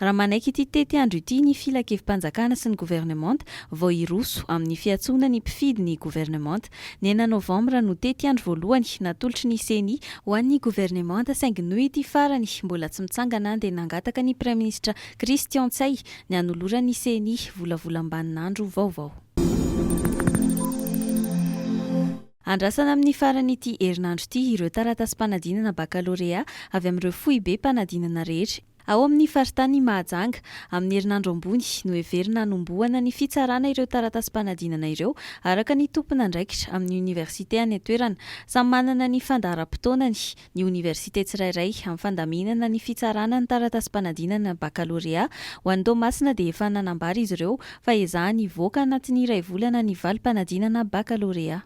Raha manaiky ity tetiandro ity ny Filankevi-panjakana sy ny Governemanta, vao hiroso amin'ny fiantsoana ny mpifidy ny Governemanta. Ny enina Novambra no tetiandro voalohany natolotry ny Ceni ho an'ny Governemanta saingy noho ity farany mbola tsy mitsangana dia nangataka ny Praiminisitra Christian Ntsay ny hanoloran'ny Ceni volavolam-baninandro vaovao. Andrasana amin'ny faran'ity herinandro ity ireo taratasim-panadinana bakalorea avy amin'ireo foibe-panadinana rehetra. Ao amin'ny faritany Mahajanga, amin'ny herinandro ambony, noheverina hanombohana ny fitsarana ireo taratasim-panadinana ireo, araka ny tompon'andraikitra amin'ny oniversite any an-toerana. Samy manana ny fandaharam-potoanany ny oniversite tsirairay amin'ny fandaminana ny fitsarana ny taratasim-panadinana bakalorea. Ho an'i Toamasina dia efa nanambara izy ireo fa ezahany hivoaka anatin'ny iray volana ny valim-panadinana bakalorea.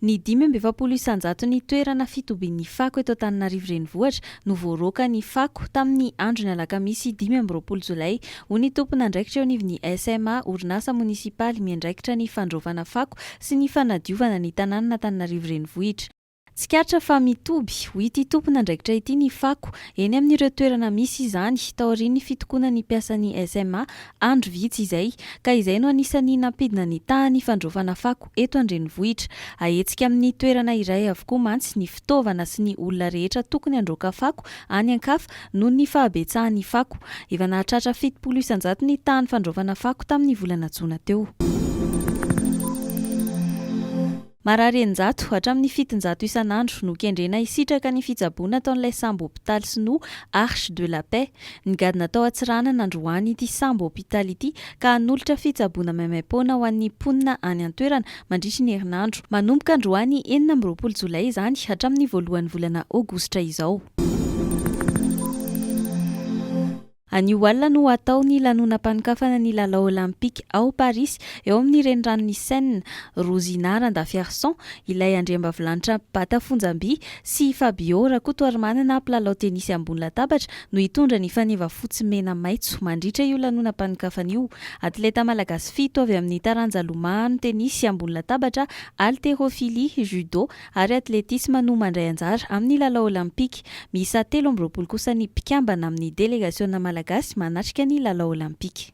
Ny dimy amby efapolo isan-jaton'ny toerana fitobian'ny fako eto Antananarivo Renivohitra no voaroaka ny fako tamin'ny andron'ny alakamisy dimy amby roapolo jolay, hoy ny tompon'andraikitra eo anivon'ny SMA, orinasa monisipaly miandraikitra ny fandraofana fako sy ny fanadiovana ny tanànan'Antananarivo Renivohitra. Tsikaritra fa mitoby, ho ity tompon'andraikitra ity, ny fako eny amin'ireo toerana misy izany, taorian'ny fitokonan'ny mpiasan'ny SMA andro vitsy izay, ka izay no anisan'ny nampidina ny tahan'ny fandraofana fako. eto an-drenivohitra. Ahetsika amin'ny toerana iray avokoa mantsy ny fitaovana sy ny olona rehetra tokony handroaka fako any an-kafa noho ny fahabetsahan'ny fako. Efa nahatratra fitopolo isan-jato ny tahan'ny fandraofana fako tamin'ny volana jona teo. Marary eninjato hatramin'ny fitonjato isan'andro no kendrena hisitraka ny fitsaboana ataon'ilay sambo hopitaly sinoa Arche de la Paix. Nigadona tao Antsiranana androany ity sambo hopitaly ity ka hanolotra fitsaboana maimaim-poana ho an'ny mponina any an-toerana mandritry ny herinandro. Manomboka androany enina amby roapolo jolay izany hatramin'ny voalohan'ny volana aogositra izao. Anio alina no hatao ny lanonam-panokafana ny lalao Olympique ao Parisy, eo amin'ny reniranon'i Seine. Rosina Randafiarison, ilay andriambavilanitra bata fonjam-by, sy Fabio Rakotoarimanana mpilalao tenisy ambony latabatra no hitondra ny faneva fotsy mena maitso mandritra io lanonam-panokafana io. Atleta malagasy fito avy amin'ny taranja lomano tenisy ambony latabatra, haltérophilie, judo ary athlétisme no mandray anjara amin'ny lalao olympika. Miisa telo amby roapolo kosa ny mpikambana amin'ny delegasiona malagasy manatrika ny lalao olympika.